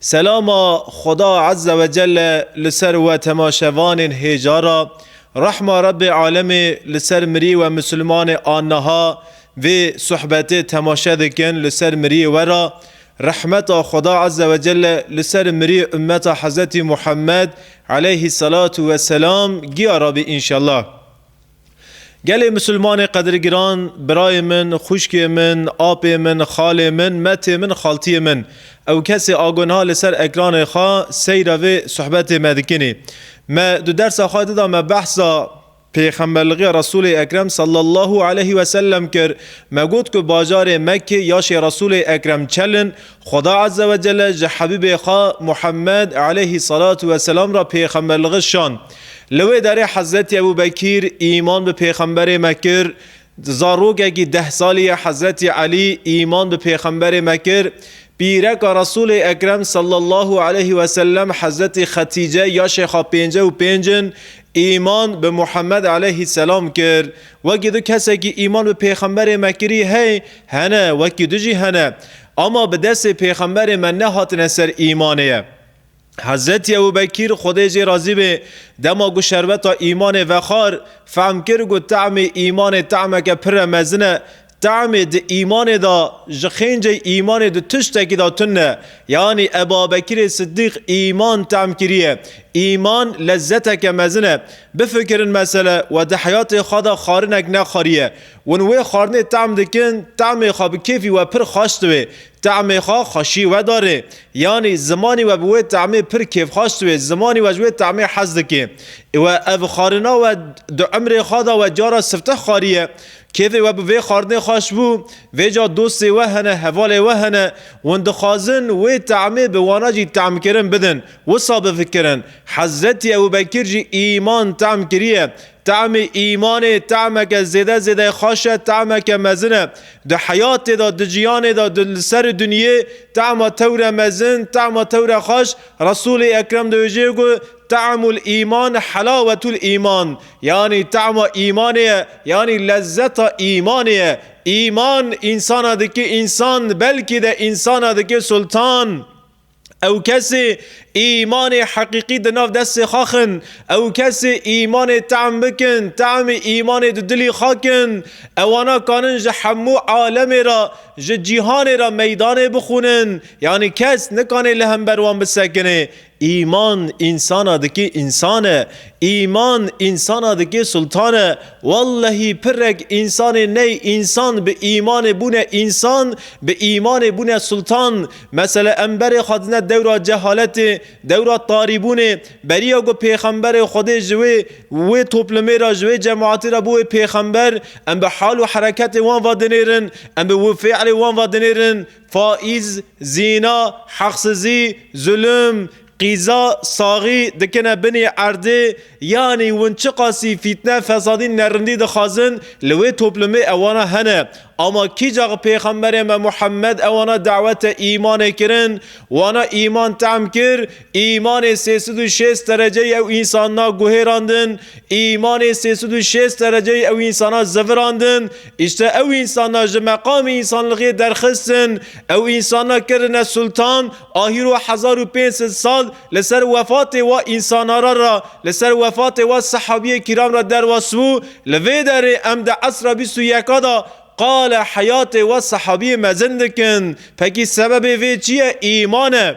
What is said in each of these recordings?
Selama Xweda Ezze Wecelle li ser we temaşevanên hêja ra, rehma Rebbê Alemê li ser mirî we Misilmanê a niha vê suhbetê temaşe dikin li ser mirî we ra, rehmeta Xweda Ezze Wecelle li ser mirî ummeta Hezretî Muhammed Eleyhî Selatu Weselam giya rabî inşellah. Gelê Misilmanê qedrgiran, birayê min, xwişkê min, apê min, xalê min, metê min, xaltiyê min, ew kesê a gunha li ser ekranê xwe seyra vê suhbetê me dikinê. Me di dersa xwe di de me behsa pêxemberligiya Resûlê Ekrem sallallahu aleyhi ve sellem kir. Me got ku bajarê Mekkê yaşê Resûlê Ekrem çel in Xweda Eze ve Cele ji Hebîbê xwe Muhemmed eleyhî selatû ve selam re pêxemberligi şand. Li wê derê Hezretî Ebû Bekîr îman bi pêxemberê me kir, zarokekî deh salî ye Hezretî Elî îman bi pêxemberê me kir, pîreka Resûlê Ekrem sallallahu eleyhî wesellem Hezretî Xetîce ya şêxa pênce û pênc in Îman bi Muhammed eleyhî selam kir. Wekî du kesekî îman bi pêxemberê me kirî hey hene wekî du jî hene. Ama bi destê pêxemberê me nehatine ser îmanê ye. Hezretî Ebû Bekîr, Xwedê jê razî bê, dema ku şerbeta îmanê vexar, fehm kir ku te'mê îmanê te'meke pirre mezin e, Temê di îmanê de ji xêncê îmanê di tiştekî de tun e. Yanî Ebabekirê Siddîq îman tem kiriye. Îman lezzeteke mezin e. Bifikirin mesele we di heyatê xwe de xarinek nexwariye. Wan wê xwarinê tem dikin, temê xwe bi kêfî we pir xweş diwê. Temê xwe xweşî wedarê. Yanî zimanî we bi wê temê pir kêfxweş diwê, zimanî we ji wê temê hez dikê. We ev xwarina we di umrê xwe de we cara sifteh xwariye. Kêfê we bi vê xwarinê xweş bû, vê ca dostê we hene, hevalê we hene, wan dixwazin wê temê bi wana jî temkirin bidin, wisa bifikirin. Hezretî Ebûbekir jî îman tem kiriye. Temê îmanê temeke zêde zêde xweş e, temeke mezin e. Di heyatê de, di jiyanê de, di li serî dinyê tema tewre mezin, tema tewre xweş, Resûlê Ekrem dibêje ku, Ta'mul îman helawetul îman, yanî ta'ma îmanê ye, yanî lezzeta îmanê ye. Îman însana dike însan, belkî de însana dike sultan. Ew kesê îmanê heqîqî di nav destê xwe xin, ew kesê îmanê ta'm bikin, ta'mê îmanê di dilî xwe kin, ewana kanin ji hemû alemê re, ji cîhanê re meydanê bixwînin, yanî kes nikanê li hember wan bisekinê. Îman însana dikê însane, îman însana dikê sultane. Wellehî pirrek însanê ney însan bi îmanê bûne însan, bi îmanê bûne sultan. Mesele emberê xwe dine dewra cehaletê, dewra tarîbûnê. Beriya ku pêxemberê Xwedê ji wê wê toplumê re, ji wê cemaetê re bûye pêxember, em bi hal û hereketê wan ve dinêrin, em bi wifêelê wan ve dinêrin. Faiz, zîna, heqsizî, zulm, qîza, saxî dikine binê erdê, yanî win çiqasî fîtne, fesadî, nerindî dixwazin li wê toplumê ewana hene. Ama kîca ku pêxemberê me Muhammed ewana dawete îmanê kirin, wana îman tehm kir, Îmanê sê sed û şêst dereceyî ew însana guhêrandin, îmanê sê sed û şêst dereceyî ew însana zivirandin, îşte ew însana ji meqamê însanlixiyê derxistin, ew însana kirine sultan, a hîro hezar û pênc sed sal li ser wefatê wa însanara ra, li ser wefatê wa sehabiyê kîram ra derwas bû, li vê derê em di esra bîst û yeka da qala heyatê wa sehabiyê mezin dikin. Pekî sebebê vê çi ye? Îman e.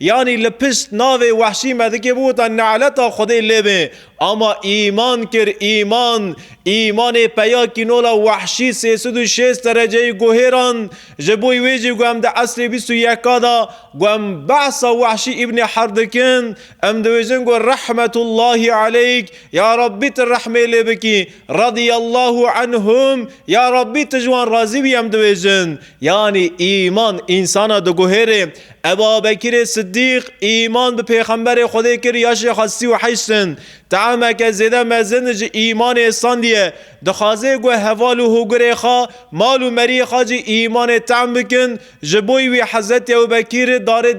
Yanî li pişt navê Wehşî Medikê biwota Ne'leta Xwedê lê be ama îman kir îman îmanê peya kînola Wehşî sê sed û şêst dereceyî guhêrand ji bo wê jî ku em di esrê bîst û yeka de ku em behsa Wehşî îbnê Herd dikin em dibêjin ku Rehmetullahî Aleyk ya Rabbî tu rehmê lê bikî Radiyallahu Anhum ya Rabbî tu ji wan razî bî em dibêjin yanî îman însana diguhêrê Eba Bekirê Siddîq îman bi Pêxemberê Xwedê kir ya jê xwe sî û heşt sin. Teameke zêde mezin ji îmanê sandiye. Dixwaze ku heval û hûgirê xwe, mal û meriyê xwe jî îmanê team bikin. Ji bo wî Hezretî Ewbekir darê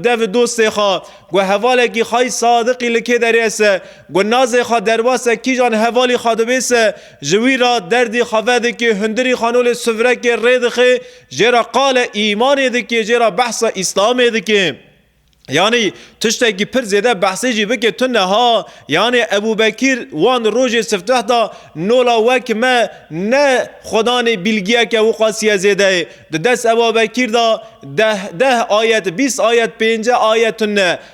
dev dostê xwe ku hevalekî xayî sadiqî li kê derêse ku nazê xwe derbase kîjan hevalî xwe dibêse ji wî re derdî xwe vedikê hundirî xanolê suvrekê rêdixê Jê re qale îmanê dike, jê re behsa îslamê dike. Yanî tiştekî pir zêde behsê jî bike tu niha yanî Ebûbekîr wan rojê sifteh da nola wek me ne xwedanê bîlgiyeke wiqasîye zêde yê. Di dest Ebabekîr da deh deh ayet bîst ayet pênce ayet tune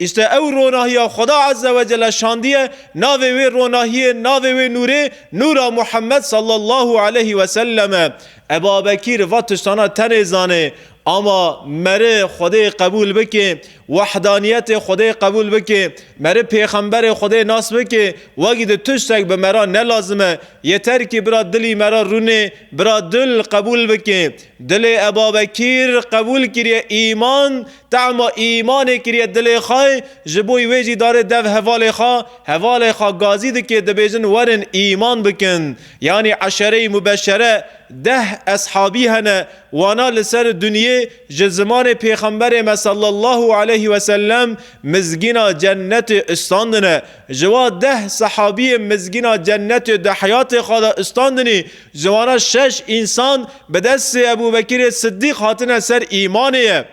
Îşte ew ronahiya Xweda Ezze Wecele şandiye, navê wê ronahiyê, navê wê nûrê Nûra Muhemmed Sallallahu Eleyhi Wesellem e. Eba Bekîr va tiştana tenê zanê. Ama meri Xwedê qebûl bikê, wahdaniyetê Xwedê qebûl bikê, meri pêxemberê Xwedê nas bikê, wegî di tiştek bi mera ne lazim e. Yeterkî bira dilî mera rûnê, bira dil qebûl bikê. Dilê Eba Bekîr qebûl kiriye îman Tahma îmanê kiriye dilê xwe, ji bo wê jî dare dev hevalê xwe, hevalê xwe gazî dike dibêjin werin îman bikin. Yanî eşere-i mubeşere, deh eshabî hene, wana li ser dunyê ji zimanê pêxemberê me sallallahu aleyh ve sellem mizgîna cennetê istandine. Ji wa deh sehabiyê mizgîna cennetê di heyatê xwe de istandinî Ji wan re şeş însan bi destê Ebûbekirê Siddîq hatine ser îmanê ye,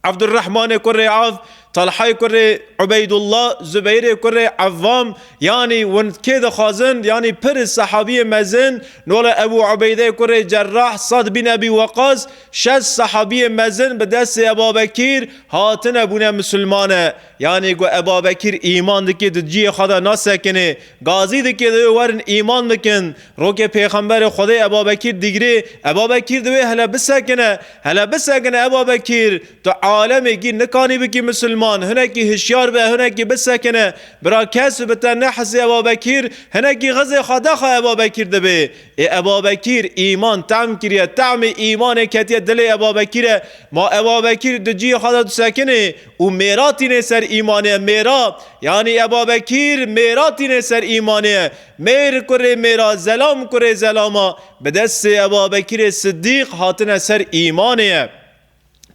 Evdurehmanê kurê Evf, Telhayê kurê Ubeydullah, Zubeyrê kurê Evvam, yanî hûn kê dixwazin, yanî pirs sehabiyê mezin, nole Ebû Ubeydeyê kurê Cerrah, Sad bin Ebî Weqas, şeş sehabiyê mezin bi destê Ebabekîr hatine bûne misilmane. Yanî ku ev Babekîr îman dike di cihê xwe de nasekinê. Gazî dike divê werin îman bikin. Rokê Pêxemberê Xwedê ev Babekîr digre, ev Babekîr divê hele bisekine. Hele bisekine ev Babekîr. Tu alemê kî nikanî bikî misilman. Hinekî hişyar be, hinekî bisekine. Bira kes bi te nehisê ev Babekîr. Hinekî xizê xwe daxe ev Babekîr dibe. Ê ev Babekîr îman tehm kiriye. Tehmê îmanê ketiye dilê ev Babekîre. Ma ev Babekîr di cihê xwe de disekinê Û mêra tînê ser îmanê mêra, yanî Ebabekîr mêra tînê ser îmanê, mêr kurê mêra, zelam kurê zelama, bi destê Ebabekîrê Siddîq hatine ser îmanê.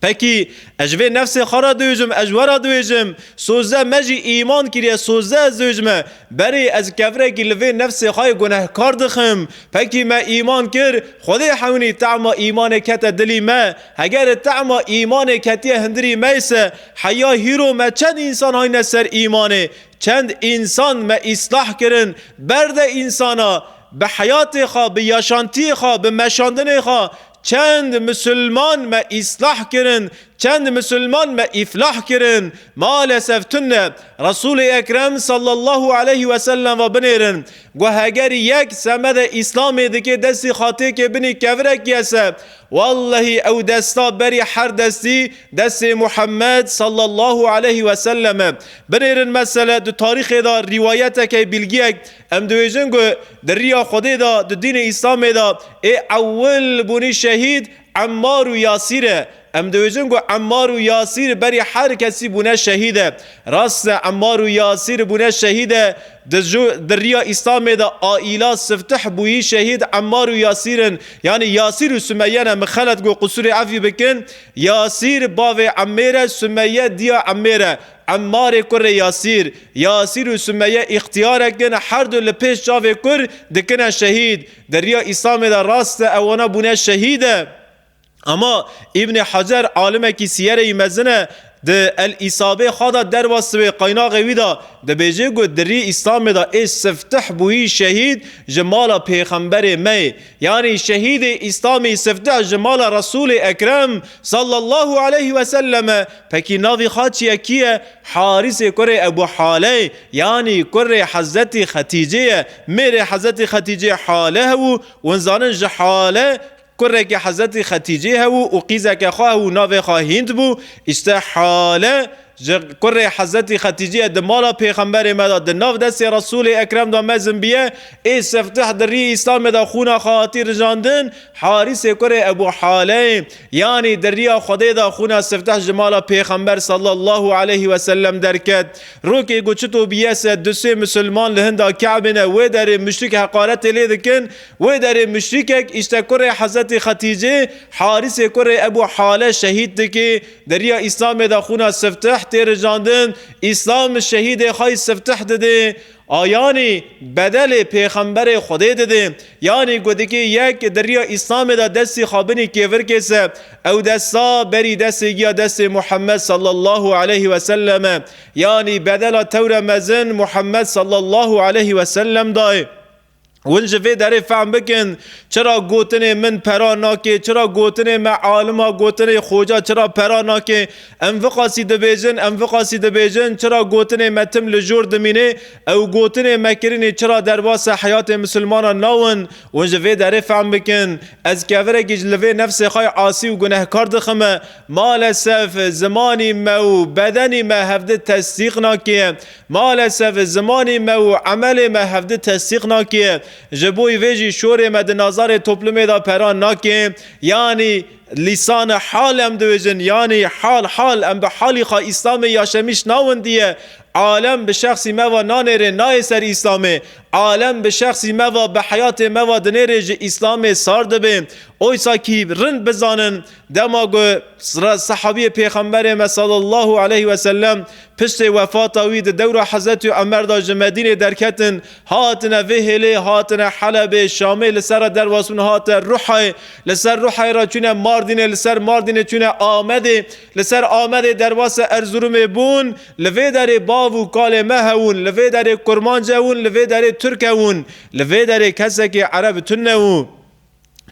Pekî ez ji vê nefsê xwe re diûjim, ez we re diûjim, sozde me jî îman kiriye, sozde ez diûjime, berê ez kevrekî li vê nefsê xwe yê gunehkar dixim, pekî me îman kir, Xwedê hewnî tema îmanê kete dilî me, Heger e tema îmanê ketiye hindirî meyse heya hîro me çend însan hayne ser îmanê, çend însan me îslah kirin, berde însana bi heyatê xwe, bi yaşantiyê xwe, bi meşandinê xwe, çend misilman me îslah kirin, çend misilman me îflah kirin. Malesef tune Resûlê Ekrem sallallahu aleyhi ve sellem ve binêrin ku heger yek semedê îslamê dike destê xatêkê binî kevirekî ye se Wallahî ew desta berî her destî destê Muhammed sallallahu aleyh we sellem e. Binêrin mesele di tarîxê de rîwayetekê bîlgiyek em dibêjin ku di riya Xwedê de di dînê Îslamê de ê ewil bûnî şehîd Emmar û Yasîr e. Em dibêjin ku Emmar û Yasîr berî her kesî bûne şehîd e. Rast e Emar û Yasîr bûne şehîd e, di ju di riya Îslamê de aîla siftih bûyî şehîd Emar û Yasîr in. Yanî Yasîr û Sumeyye ne min xelet got qusûrê evî bikin. Yasîr bavê Emêr e Sumeyye diya Emêr e. Emarê kurê Yasîr. Yasîr û Sumeyye îxtiyarek in her du li pêş çavê kur dikine şehîd. Di riya Îslamê de rast e wana bûne şehîd e. Ama Îbnê Hecer alimekî sîyere yî mezin e, di El-Îsabê xwe de derva siwê qaynaxê wî de dibêje ku di rî Îslamê de ê siftih bûyî şehîd ji mala pêxemberê me yê. Yanî şehîdê Îslamî siftih ji mala Resûlê Ekrem sallallahu aleyh we sellem e. Pekî navê xaçiye kî ye? Harîsê kurê Ebû Hale ye. Yanî kurê Hezetî Xetîcê ye. Mêrê Hezetî Xetîcê Hale hebû. Wan zanin ji Hale, Kurekî Hezretî Xetîcî hebû û qîzeke xwe hebû navê xwe Hînd bû, îşte Hale ji kurê Hezretî Xetîcî ye di mala Pêxemberê me de di nav destê Resûlê Ekrem de mezin bîye, ê Siftih di rî Îslamê de xwûna xwe hatî rijandin, Harîsê kurê Ebû Haleyê yanî di rîya Xwedê de xwûna Siftih ji mala Pêxember sallallahu aleyhî weselem derket. Rokê ku çito bîye se du sê Musulman li hinda Kabê ne wê derê muşrik heqaretê lê dikin, Wê derê muşrîkek îşte kurê Hezretê Xetîcê, Harîsê kurê Ebû Hale şehîd dike. Derîya Îslamê de xûna Siftih tê rijandin. Îslam şehîdê xwe yê Siftih dide. A yanî bedelê Pêxemberê Xwedê dide. Yanî ku dikê yek derîya Îslamê de destê xwe binî kêvirkê se, ew desta berî destê giya destê Muhemmed sallallahu aleyh ve sellem e. Yanî bedela tewre mezin Muhemmed sallallahu aleyh ve sellem dayê. Hûn ji vê derê fehm bikin çira gotinê min pera nake, çira gotinê me alima gotinê xoca çira pera nake. Em viqasî dibêjin, em viqasî dibêjin çira gotinê me tim li jor dimîne. Ew gotinê me kirinê çira derbasê heyatê misilmanan nawin. Hûn ji vê derê fehm bikin ez kevirekî ji li vê nefsê xwe yê asî û gunehkar dixime. Malesef zimanî me û bedenî me hevdi tesdîq nake. Malesef zimanê me û emelê me hevdi tesdîq nake. Ji boî vê jî şorê me di nazarê toplumê de peran nake. Yanî lîsan hal em dibêjin, yanî hal hal em bi halî xwe Îslamê ya Şemîş nawindiye. Alem bi şexsî me ve nanêrê nayê ser Îslamê. Alem bi şexsî me ve bi heyatê me ve dinêrê ji Îslamê sar dibe. Oysa kî rind bizanin Dema ku sehabîyê Pêxemberê me sallallahu aleyh ve sellem piştê wefata wî di dewra Hezretî Omer de ji Medînê derketin hatine vê hêlê hatine Helebê, Şamê li ser re dervasbûn hate Ruhayê, li ser Ruhayê re çûne Mardînê, li ser Mardînê çûne Amedê, li ser Amedê dervasê Erzurumê bûn, li vê derê bav û kalê me hewûn, li vê derê kurmanc hewûn, li vê derê turk hewûn, li vê derê kesekî ereb tune û.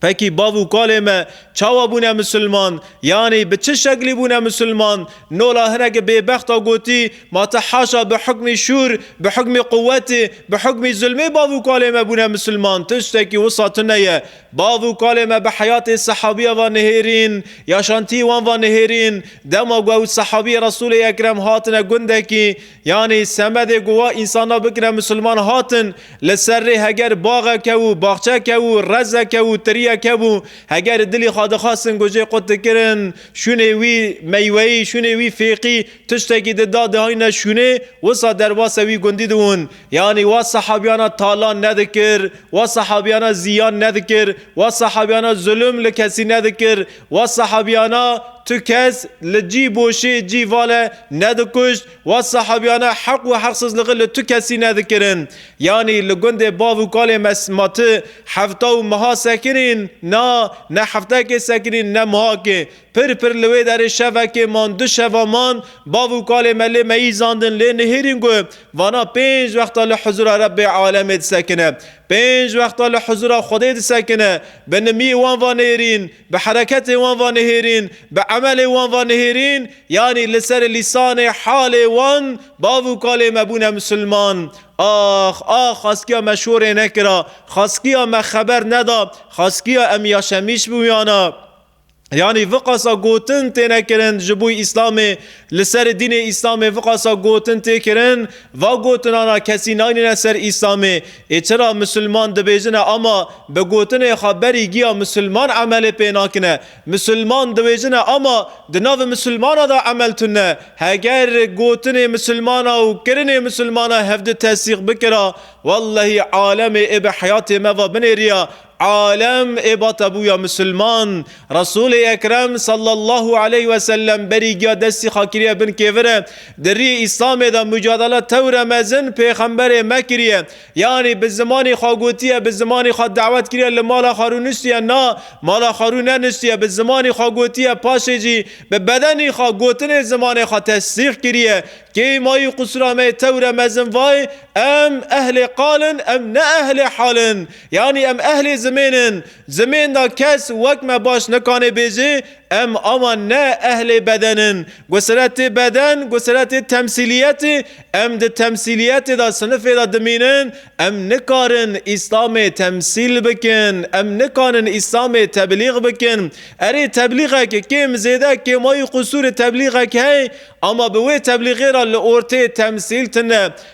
Pekî bav û kalê me çawa bûne misilman? Yanî bi çi şeklî bûne misilman? Nola hineke bêbexta gotî, Ma ti haşa bi hukmî şûr, bi hukmî quwetê, bi hukmî zulmê bav û kalê me bûne misilman. Tiştekî wisa tune ye. Bav û kalê me bi heyatê sehabîya ve nihêrîn, yaşantîyê wan ve nihêrîn. Dema ku ew sehabîyê Resûlê Ekrem hatine gundekî, Yanî semedê ku wa însanan bikire misilman hatin li ser rê heger baxeke û baxçeke û rezeke û tiriyeke bû heger li dilî xwe dixwestin ku jê qut dikirin şûnê wî meyweyî şûnê wî fêqî tiştekî di da dihayîne şûnê wisa derbasê wî gundî dibûn yanî wa sehabiyana talan nedikir wa sehabiyana zîyan nedikir wa sehabiyana zulm li kesî nedikir Wa sahabiyana tu kes li cî boşê cî vale nedikuşt, wa sahabiyana heq û heqsizligi li tu kesî nedikirin. Yanî li gundê bav û kalê me ma tu hefta û miha sekinîn, na, ne heftekê sekinîn ne mihakê. Pir pir li wê derê şevekê man, du şeva man, bav û kalê me lê meyîzandin, lê nihêrîn ku vana pênc wexta li huzûra Rebbê alemê disekine. Pênc wexta li huzûra Xwedê disekine, bi nimîyê wan va nêrîn, bi hereketê wan va nihêrîn, bi emelê wan va nihêrîn, yanî li serê lîsanê halê wan bav û kalê me bûne misilman. Ax, ax xaskiya me şorê nekira, xaskiya me xeber neda, xaskiya em yaşemîş bûyana. Yanî viqasa gotin têne kirin ji bo Îslamê li serê dînê Îslamê viqasa gotin tê kirin va gotinana kesî naynîne ser Îslamê ê çira misilman dibêjine ama bi gotinê xwe berî giya misilman emelê pê nakine misilman diwêjine ama di navê misilmana de emel tune heger gotinê misilmana û kirinê misilmana hevdi tesîq bikira wellehî alemê ê bi heyatê me va binêriya Alem ê bata bûya misilman. Resûlê Ekrem sallallahu aleyh ve sellem berî giya destî xwe kiriye bin kêfir e. Di riyê Îslamê de mucadele tewre mezin pêxemberê me kiriye. Yanî bi zimanê xwe gotiye, bi zimanê xwe dawet kiriye li mala xwe rû nûstiye na, mala xwe rû nenûstiye, bi zimanê xwe gotiye paşê jî bi bedenê xwe gotinê zimanê xwe tesdîq kiriye. Kêy mayî qusûra me yê tewre mezin vayê, em ehlê qal in, em ne ehlê hal in. Yanî em ehlê zimên in, zimên da kes wek me baş nikanê bêjê, em awa ne ehlê beden in. Gusiretê beden, gusiretê temsîliyetê, em di temsîliyetê da sinifê da dimînin, em nikarin Îslamê temsîl bikin, em nikanin Îslamê teblîg bikin. Erê teblîgek kêm zêde kêmayî qusûrê teblîgek hey, ama bi wê teblîgê ra li ortê temsîl tune.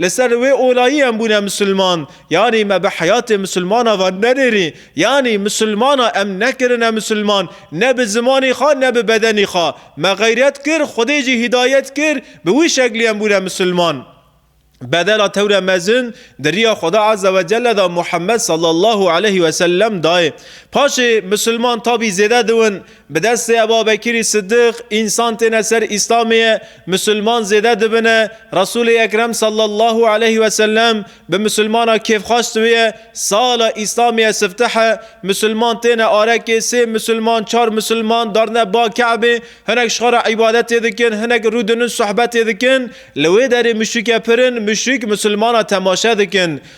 Li ser wê olayî em bûne misilman, yanî me bi heyatê misilmana ve nenêrî, yanî misilmana em nekirine misilman, ne bi zimanî xwe ne bi bedenî xwe. Me xeyret kir, Xwedê jî hîdayet kir, bi wî şeklî em bûne misilman. Bedela tewre mezin di riya Xweda Azze ve Celle de Muhammed sallallahu aleyhi ve sellem dayê. Paşê misilman tabî zêde diwin, Bi destê Ebabekirî Siddîq însan têne ser Îslamê, misilman zêde dibine, Resûlê Ekrem sallallahu aleyh ve sellem bi misilmana kêfxweş diwîye, sala Îslamê siftih e, misilman têne arekê, sê misilman, çar misilman darine ba Ke'bê, hinek ji xwe re îbadetê dikin, hinek rûdinin sohbetê dikin, li wê derê muşrîke pir in, muşrîk misilmana temaşe dikin.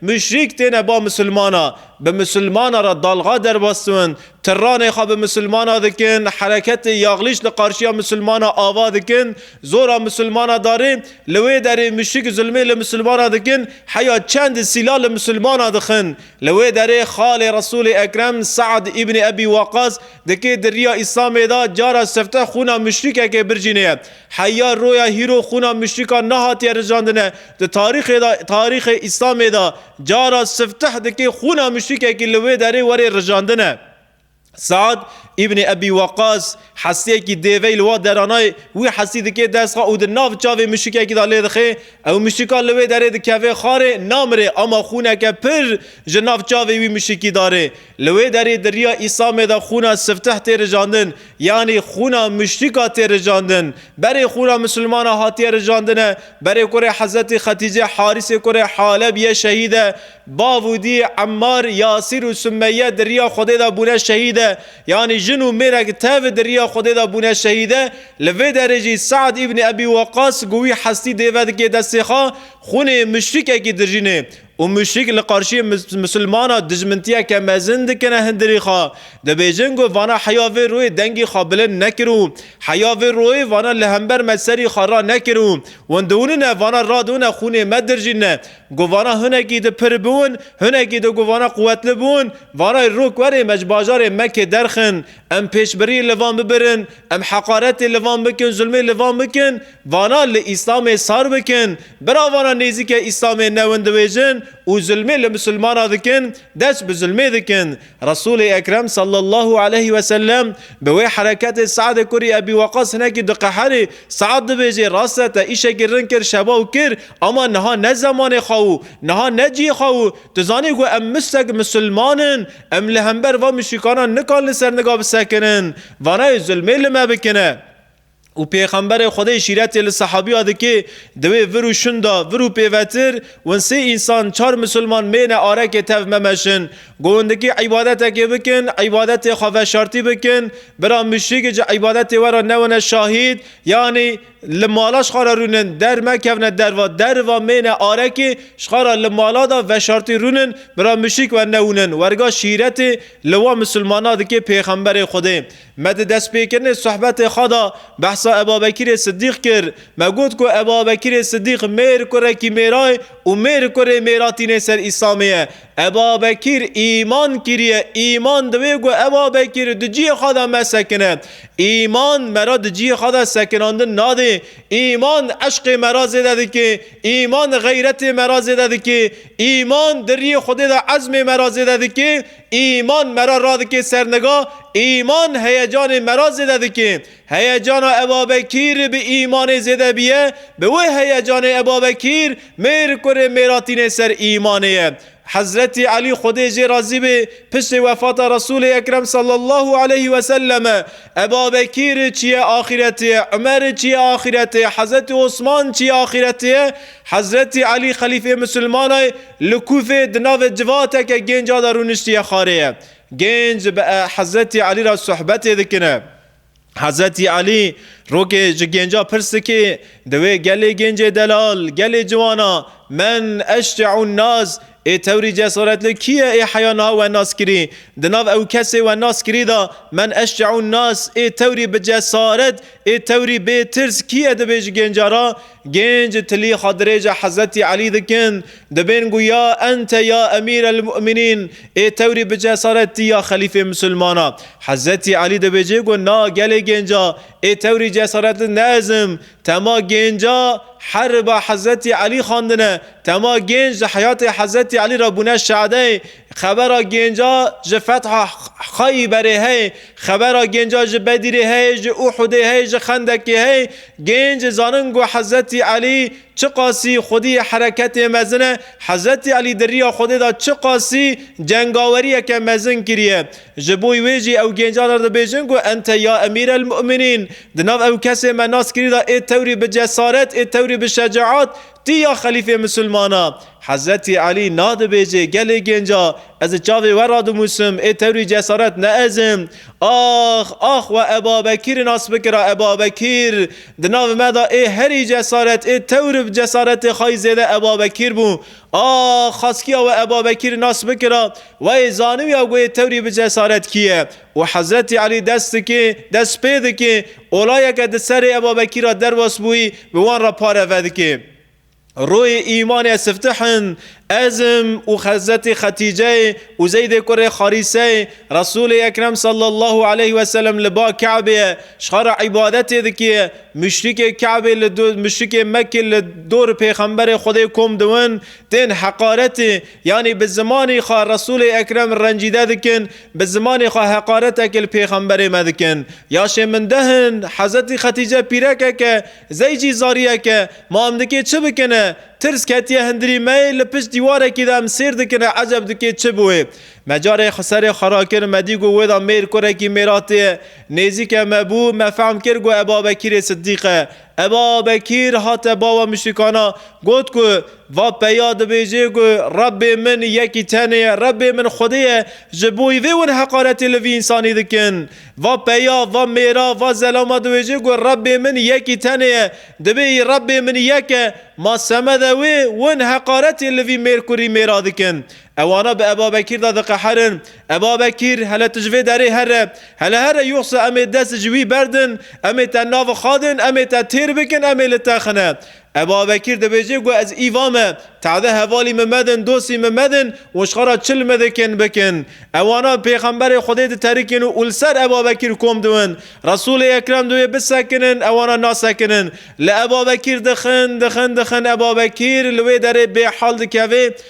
Muşrîk têne ba misilmana, bi misilmana re dalga derwestin, tiranê xwe bi misilmana dikin, hereketê yaxlîş li qarşiya misilmana ava dikin, zora misilmana darê, li wê derê muşrîk zilmê li misilmana dikin, heya çend sîla li misilmana dixin. Li wê derê xalê Resûlê Ekrem Se'd Îbnî Ebî Weqas dikê di riya Îslamê de cara sifte xwûna muşrîkekê bircînê ye. Heya roya hîro xûna muşrikan nehatiye rijandine. Di tarîxê de, tarîxê Îslamê de cara sifteh dikê xûna muşrikekî li wê derê were rijandine. Sead Îbnê Ebî Weqas hesiyekî dêvey li wa dera nayê, wî hesî dikê dest xwe û di nav çavê muşrikekî de lê dixê. Ew muşrikan li wê derê dikeve xarê, namire ama xûneke pir ji nav çavê wî muşrikî darê. Li wê derê di riya Îsamê de xûna sifteh tê rijandin, yanî xûna muşrîka tê rijandin. Berê xûna misilmana hatiye rijandine, berê kurê Hezretî Xetîcê Harîsê kurê Haleb yê şehîd e, bav û dî Emmar, Yasîr û Sumeyye di riya Xwedê de bûne şehîd e, yanî jin û mêrek tev di riya Xwedê de bûne şehîd e, li vê derê jî Se'd îbnî Ebî Weqas ku wî hestî dêve dikê destê xwe, xûnê muşrîkekî dijînê. Û muşrik li qarşiyê misilmanan dijmintiyeke mezin dikine hindirî xwe. Dibêjin ku vana heya vê royê dengî xwe bilind nekir û heya vê royê vana li hember me serî xwe ranekir û hûn diwinine vana radûne xûnê me dirjînine ku vana hunekî di pir bûn hunekî di ku vana quwetli bûn vana rok werê me ji bajarê Mekkê derxin em pêşbirî li van bibirin em heqaretê li van bikin zulmê li van bikin Vana li Îslamê sar bikin, bira vana nêzîke Îslamê newin dibêjin û zulmê li misilmana dikin, dest bi zulmê dikin. Resûlê Ekrem sallallahu aleyh ve sellem bi wê hereketê Se'dê kurî Ebî Weqas hinekî diqeherî. Se'd dibêjê, Rast e te îşekî rin kir şeva û kir ama niha ne zemanê xwe û niha ne cihê xwe û tu zanî ku em müştek misilman in, em li hember van müşrîkanan nikan li ser niga bisekirin. Vanayê zulmê li me bikine. Û Pêxemberê Xwedê şîretê li sehabîya dike, di wê vir û şun de, vir û pêvetir, win sê însan, çar misilman mêne arekê tev memeşin. Govindikî îbadetekê bikin, îbadetê xwe veşartî bikin, bira muşrîkê ji îbadetê we re newine şahîd, yanî li mala xwe re rûnin, der mekevine derva, deriva mêne arekê, xwe re li mala de veşartî rûnin, bira muşrîk wernewûnin. Werga şîretê li wan misilmana dike Pêxemberê Xwedê. Me di destpêkirinê sohbetê xwe de behsa Ebabekîrê Sidîq kir. Me got ku Ebabekîrê Sidîq mêr kurekî mêra ye û mêr kurê mêra tînê ser Îslamê ye. Ebabekîr îman kiriye, îman divê ku Ebabekîr di cihê xwe de me sekine. Îman me re di cihê xwe de sekinandin nadê. Îman eşqê me re zêde dike, îman xeyretê me re zêde dike, îman di riyê Xwedê de ezmê me re zêde dike, Îman me re radike ser niga, îman heyecanê me re zêde dike. Heyecana e babekîr bi îmanê zêde bîye, bi wê heyecanê e babekîr mêr kurê mêra tîne ser îmanê ye. Hezretî Elî Xwedê jê razî be piştê wefata Resûlê Ekrem sallallahu aleyh ve selleme e babekîr çîye axîretê ye, Umer çîye axîretê ye, Hezretî Osman çîye axîretê ye, Hezretî Elî xelîfê misilmanay li Kûfê di navê civateke gênca de rûniştiye xarêye. Gênc bi Hezretî Elî re sohbetê dikine. Hezretî Elî rokê ji gênca pirs dike, Di wê gelê gêncê delal, gelê ciwana, men, eşte û naz Ê tewrî cesaretli kî ye ê heya niha we nas kirî? Di nav ew kesê we nas kirî de men eşceûn nas ê tewrî bi cesaret ê tewrî bê tirs kî ye dibê ji gênca re? Gênc tilîxa dirêja Hezretî Elî dikin dibên ku ya ente ya emîr el mu'minîn ê tewrî bi cesaret tî ya xelîfê misilman e. Hezretî Elî dibêje ku na gelê gênca ê tewrî cesaretli ne ez im Tema gênca heriba Hezretî Elî xwendine, tema gênc di heyatê Hezretî Elî re bûne şadeyê. Xebera gênca ji fetha Xayî berê heye. Xebera gênca ji Bedîrê heye, ji Uhudê heye, ji Xendekê heye. Gênc zanin ku Hezretî Elî çiqasî xwedî hereketê mezin e. Hezretî Elî di riya xwedê de çiqasî cengaweriyeke mezin kiriye. Ji bo wê jî ew gêncan re dibêjin ku ente ya emîr el mu'minîn, di nav ew kesê me nas kirî de ê tewrî bi cesaret, ê tewrî bi şecaat, tî ya xelîfê misilman a. Hezretî Elî nah dibêje, gelê gênca, ez di çavê we re dinûsim, ê tewrî cesaret ne ez im. Ax! Ax! We Ebabekîrî nas bikira, Ebabekîr! Di nav me de ê herî cesaret, ê tewr bi cesaretê xwe yî zêde Ebabekîr bû. A xaskiya we Eba Bekîr nas bikira, wayê zanibîya goyê tewrî bi cesaret kîye û Hezretî Elî dest dikê, dest pê dikê, olayeke di serê Eba Bekîr a derwas bûyî bi wan re pare vedikê. Royê îmanê ez siftih in, ez im û Hezretî Xetîceyê û Zeydê kurê Xarîseyê, Resûlê Ekrem sallallahu aleyh weselem li ba Ke'bê ye, ji xwe re îbadetê dikê, Muşrikê Kabê li do muşrikê Mekkê li dor pêxemberê Xwedê kom diwin, tên heqaretê, yanî bi zimanê xwe Resûlê Ekrem rencîde dikin, bi zimanê xwe heqareteke li pêxemberê me dikin. Yaşê min deh in, Hezretî Xetîce pîrekek e, zey jî zariyek e, ma em dikê çi bikin e? Tirs ketiye hindirî me yê, li pişt dîwarekî de em sêr dikin e eceb dikê çi bûê? Me carê serê xwe rakir, me dî ku wê de mêr kurekî mêratê ye, Nêzîke me bû, me fehm kir ku Eba Bekîrê Siddîq e. Eba Bekîr hate bawa muşrîkana, got ku, Va peya dibêjê ku Rebbê min yekî tenê ye, Rebbê min Xwedê ye, ji bo wî vê win heqaretê li vî însanî dikin. Va peya, va mêra, va zelama dibêjê ku Rebbê min yekî tenê ye, dibê yî Rebbê min yek e, ma semede wê win heqaretê li vî mêr kurî mêra dikin. Ewana bi Eba Bekîr de diqeherin. Eva Bekîr, Hele tu ji vê derê here. Hele here yoxsa em ê dest ji wî berdin, em ê te navixadin, em ê te têr bikin, em ê li te xine. Eva Bekîr dibêje ku ez îva me, tade hevalî min medin, dostî min medin û ji xera çil min dikin bikin. Ewanan pêxemberê Xwedê diterikîn û li ser Eva Bekîr kom diwin. Resûlê Ekrem diwê bisekinin, ewanan nasekinin. Li Eva Bekîr dixin, dixin, dixin Eva Bekîr li wê derê bêhal dikeve,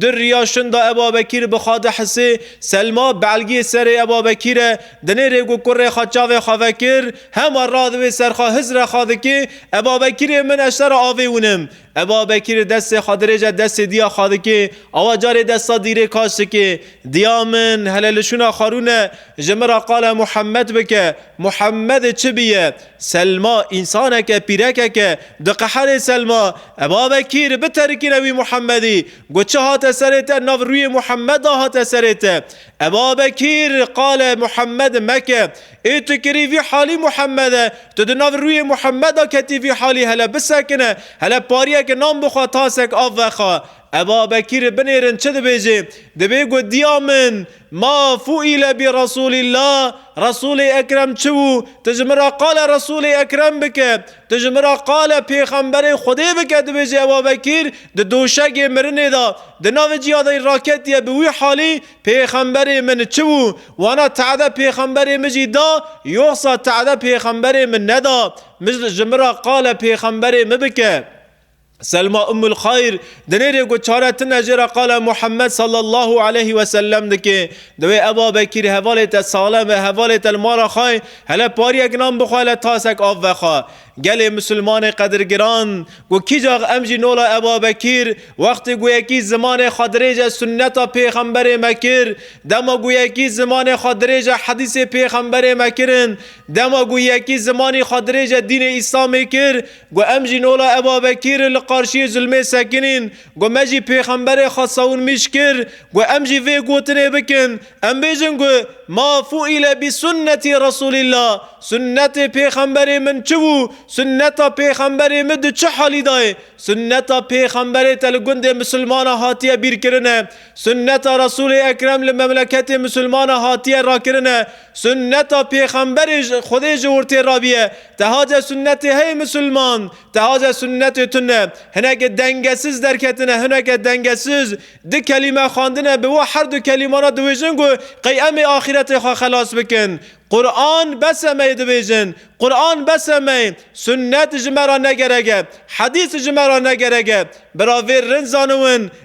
Di riya şinda Eba Bekîr bi Xadi Hisê, Selma, belgiyê serê Eba Bekîr e. Di nêrê ku kurê xwe çavê xwe vekir, hema ra di wê serxa hiz re xwe dikê, Eba Bekîrê min ez şera avê winim. Eba Bekîr destê xwe dirêj e destê diya xwe dikê, awa carê desta dîrê kaç dikê. Diya min, hele li şûna xwe rûne, ji min ra qala Muhemmed bike. Muhemmedê çi bûye? Selma, însaneke, pîrekeke, diqeherê Selma, E babe kîr, biterikîne wî Muhemedî, got çi hate serê te, nav rûyê Muhemed de hate serê te. E babe kîr, qale Muhemed meke, ê tu kirî vî halî Muhemed e, tu di nav rûyê Muhemed de ketî vî halî, hele bisekine, hele pariyeke nan bixwe, tasek av vexa. E babe kîr, binêrin çi dibêjê, dibê got dîya min, Ma fuîle bi Resûlîllah, Resûlê Ekrem çi bû? Tu ji min re qala Resûlê Ekrem bike. Tu ji min re qala Pêxemberê Xwedê bike dibêje Eba Bekîr di doşegê mirinê de di navê ciya de raketiye bi wî halî Pêxemberê min çi bû? Wana te'de Pêxemberê min jî da yoxsa te'de Pêxemberê min neda? Min ji min re qala Pêxemberê min bike. Selma Ummul Xayr di nêrê ku çare tune jê re qala Muhammed sallallahu aleyhi ve sellem dike. Divê Eba Bekîr hevalê te salem ve hevalê te li mala xwe ye, hele pariyek nan bixwe hele tasek av vexe. Gelê Musulmanê qedirgiran, ku kîcax em jî nola Eba Bekîr, wextê ku yekî zimanê xwe dirêje sunneta pêxemberê me kir, dema ku yekî zimanê xwe dirêje hedîsê pêxemberê me kirin, dema ku yekî zimanî xwe dirêje dînê Îslamê kir, Got, Em jî nola Eba Bekîr li qarşiyê zilmê sekinîn. Got, Me jî pêxemberê xwe sawin mîş kir. Got, Em jî vê gotinê bikin. Em bêjin ku, Ma fu'ile bi sunneti Resûlillah, Sunnetê pêxemberê min çi bû? Sunneta pêxemberê min di çi halî de ye? Sunneta pêxemberê te li gundê misilmanan hatiye bîrkirine. Sunneta Resûlê Ekrem li memleketê misilmanan hatiye rakirine. Sunneta Pêxemberê ji Xwedê ji wir tê rabiye. Teha ce sunnetê heye misilman, teha ce sunnetê tun e. Hineke dengesiz derketine, hineke dengesiz di kelîme xwendine bi wi herdu kelîmana dibêjin ku qey em ê axîretê xwe xelas bikin. Quran bes e me yê dibêjin, Quran bes e me yê, sunnet ji me re ne gerek e, hedîs ji me re ne gerek e. Bira vê rind zaniwin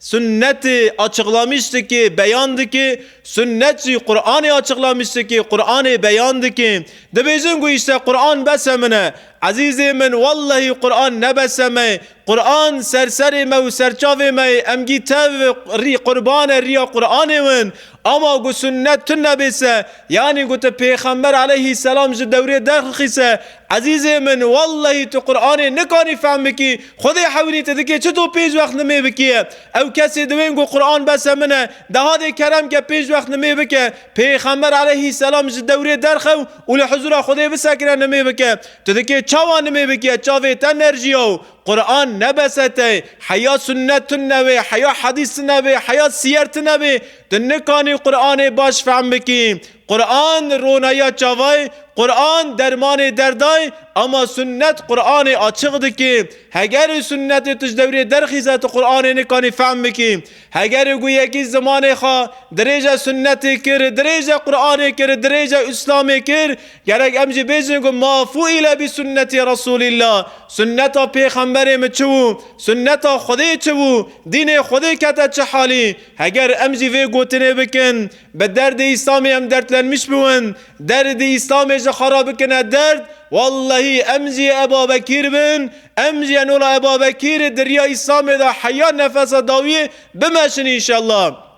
Sunnetê açıqlamış dike, beyan dike, sunnet jî Quranê açıqlamış dike, Quranê beyan dike. Dibêjin ku îşte Quran bese min e. Ezîzê min wellehî Quran ne bese me ye. Quran ser serê me û serçavê me ye. Em gî tev rî qurban e rîya Quranê win. Ama ku sunnet tune bê se, yanî ku tu Pêxember aleyhîsselam ji dewrê derxixî se, ezîzê min wellehî tu Quranê nikanî fehm bikî, Xwedê hewînî te dikê çi tu pênc wext nimê bikî ye? Ew kesê di wên ku Quran bese min e, deha dê kerem ke pênc wext nimê bike, Pêxember aleyhîsselam ji dewrê derxew û li hizûra Xwedê bisekine nimê bike. Tu dikê çawa nimê bikî ye, çavê te nerjîya û. Quran ne bes e te, heya sunnet tune bê, heya hedîs tune bê, heya siyer tune bê, tu nikanî Quranê baş fehm bikî. Quran ronayiya çavayê, Quran dermanê derdayê, ama sunnet Quranê açiq dikê. Hegerê sunnetê tu ji dewrê derxîze tu Quranê nikanî fehm bikî. Hegerê ku yekî zimanê xwe dirêje sunnetê kir, dirêje Quranê kir, dirêje Îslamê kir, Gerek em jî bêjin ku mafû île bî sunnetê Resûlîlla, sunneta pêxemberê min çi wû, sunneta Xwedê çi wû, dînê Xwedê kete çi halî. Heger em jî vê gotinê bikin, bi derdê Îslamê em derdlenmiş biwin, derdê Îslamê ji xwe re bikine derd, wellehî em jî yê Ebabekîr bin, em jî yên ola Ebabekîrê di riya Îslamê de heya nefesa dawiyê bimeşin înşellah.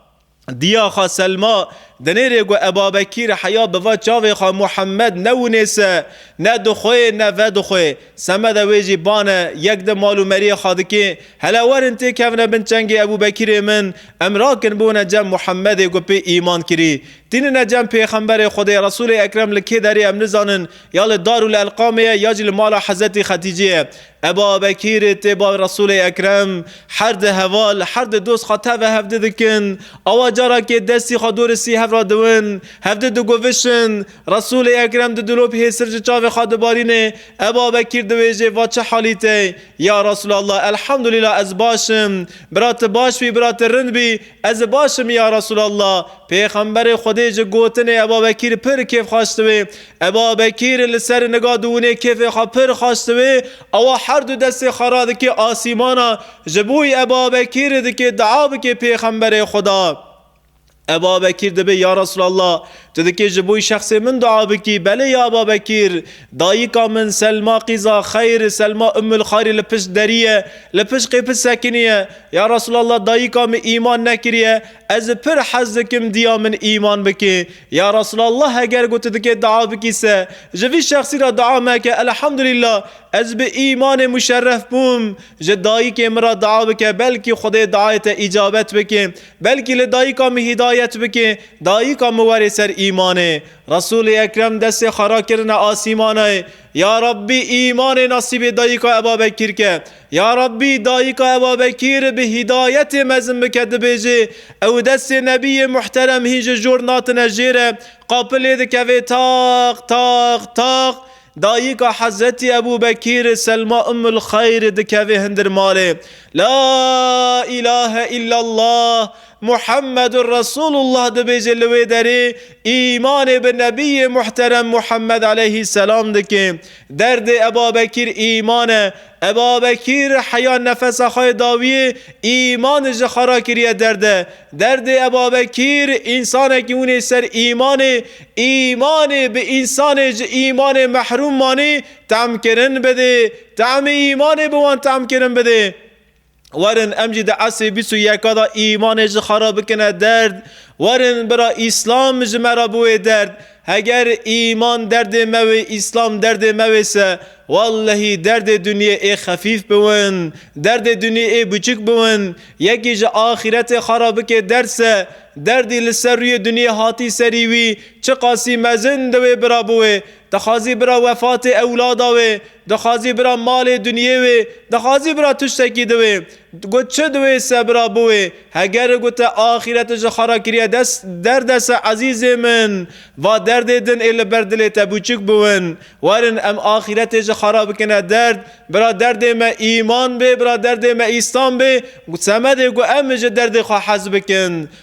Diya xwe Selma dinêre ku ev babekî re heya bi va çavê xwe Muhemmed ne winêse, ne dixwe yê ne vedixwe. Semeda wê jî ban e, yek di mal û meriyê xwe dike, Hele werin têkevine bin çengê Ebûbekîrê min, em rakin biwine cem Muhemmedê ku pê îman kirî. Tînine cem pêxemberê Xwedê, Resûlê Ekrem li kê derê em nizanin, ya li Darûl Elqamê ye ya jî li mala Hezretî Xetîcê ye. Ebabekîr tê bal Resûlê Ekrem, her di heval, her di dost xwe tevve hevdi dikin, awa carakê destî xwe dorê sî hev ra diwin, hevdi digovişin, Resûlê Ekrem di dilop hêsir ji çavê xwe dibarînê, Ebabekîr diwêjê va çi halî te? Ya Resûlallah Elhamdulîlah ez baş im, bira ti baş bî, bira ti rind bî, ez baş im ya Resûlallah. Pêxemberê Xwedê ji gotinê Ebabekîr pir kêfxaş diwê. Eba Bekîr li ser niga di winê kêfê xwe pir xweş diwê, ewa her du destê xwe radikê asîmana, ji bo wî Eba Bekîr dikê dua bikê Pêxemberê Xweda. Eba Bekîr dibê Ya Resûlallah! Tu dikê ji bo wî şexsê min dua bikî? Belê ya Eba Bekîr! Dayika min Selma qîza xeyr, Selma Ummul Xayrî li pişt derî ye, li pişt qêpit sekinî ye. Ya Resûlallah dayika min îman nekiriye, Ez pir hez dikim diya min îman bikê. Ya Resulallah heger ku tu dikê dua bikî se ji vî şexsî re dua meke Elhamdulillah ez bi îmanê muşerref bûm ji dayikê min re dua bike belkî Xwedê duayê te îcabet bikê belkî li dayika min hîdayet bikê dayika min were ser îmanê Resulê Ekrem destê xwe rakirine asîmanê Ya Rabbî îmanê nasîbê dayika Ebabekîr ke Ya Rabbî dayika Eba Bekîr bi hîdayetê mezin bike dibêjê, ew destê Nebiyê muhterem hîn ji jor natine jê re, qapilê dikevê taq taq taq, dayika Hezretî Ebû Bekîr Selma Ummul Xeyr dikevê hundir malê, La îlahe îllallah Muhemmedur Resûlullah dibêjê li wê derê îmanê bi Nebiyê muhterem Muhemmed eleyhî selam dike. Derdê Ebabekîr îman e. Ebabekîr heya nefesa xwe yê dawiyê îmanê ji xwe re kiriye derde. Derdê Ebabekîr însanekî hûnê ser îmanê, îmanê bi însanê ji îmanê mehrûm manî temkirin bidê. Temê îmanê bi wan temkirin bidê. Werin em jî di esrê bîst û yeka de îmanê ji xwe re bikine derd. Werin bira Îslam ji me re biwê derd. Heger îman derdê me wê, Îslam derdê me wê se, wellehî derdê dunyê ê xefîf biwin, derdê dunyê ê biçûk biwin. Yekî ji axîretê xwe re bikê derd se, derdî li ser rûyê dunyê hatî serî wî, çiqasî mezin di wê bira biwê. Dixwazî bira wefatê ewlada wê, Dixwazî bira malê dunyê wê, dixwazî bira tiştekî di wê. Got çi di wê se bira bi wê. Heger gote axîrete ji xwe re kiriye dest, derd e se ezîzê min. Va derdê din ê li ber dilê te bûçik biwin. Werin em axîretê ji xwe re bikine derd. Bira derdê me îman bê, bira derdê me îslam bê. Semedê ku em ji derdê xwe hez bikin.